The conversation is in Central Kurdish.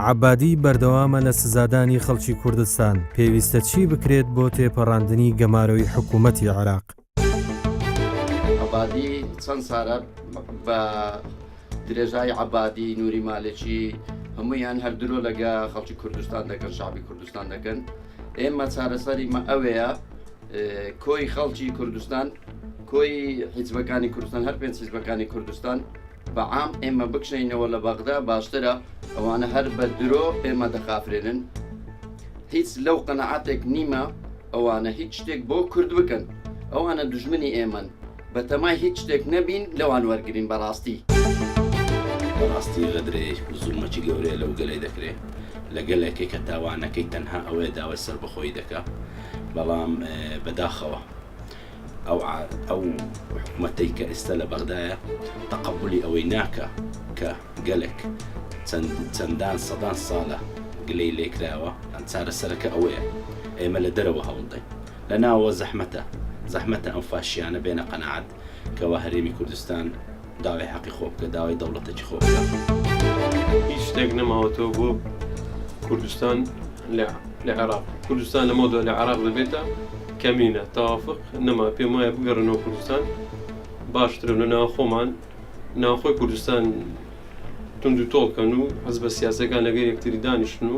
عەبادی بەردەوامە لە سزادانی خەڵکی کوردستان، پێویستە چی بکرێت بۆ تێپەڕاندنی گەمارۆی حکوومەتی عێراق؟ عەبادی چەند سارە بە درێژای عەبادی نوری مالێکی هەمویان هەر درۆ لەگە خەڵکی کوردستان دەکەن شعبی کوردستان دەکەن ئێمە چارەسەری مە ئەوەیە کۆی خەڵکی کوردستان کۆی حیزبەکانی کوردستان هەر پێنج حیزبەکانی کوردستان بە عام ئێمە بکشێینەوە لە بەغدا باشترە ئەوانە هەر بە درۆ ئێمە دەخافرێنن هیچ لەو قەنەعاتێک نیمە ئەوانە هیچ شتێک بۆ کورد بکەن ئەوانە دژمنی ئێمەن بەتەمای هیچ شتێک نەبین لەوان وەرگین بەڕاستی بەڕاستی غەدرێ زوومەکی گەورەیە لەو گەلەی دەکرێ لە گەلێکی کە تاوانەکەی تەنها ئەوەیە داوای سەربەخۆیی دەکا بەڵام بەداخەوە. ئەو ئەو حکومەتەی کە ئێستا لە بەغدایە تەقەبولی ئەوەی ناکا کە گەلێک چەند چەندان سەدان ساڵە گلەی لێکراوە ئەم چارەسەرەکە ئەوەیە ئێمە لە دەرەوە هەوڵدەین لە ناوە زەحمەتە زەحمەتە ئەم فاشیانە بێنە قەنەعەت کەوا هەرێمی کوردستان داوای حەقی خۆ بکە داوای دەوڵەتەکی خۆ بکە هیچ شتێک نەماوەتەوە بۆ کوردستان لە لە عێراق کوردستان لەمە دو لە عراق دەبێتە کەمینە تاوافق نەما پێم وایە بگەڕنەوە کوردستان باشترە لە ناو خۆمان ناوخۆی کوردستان تونند و تۆڵکەن و حەز بە سیاسەکان لەگەر یەکتری دانیشتن و.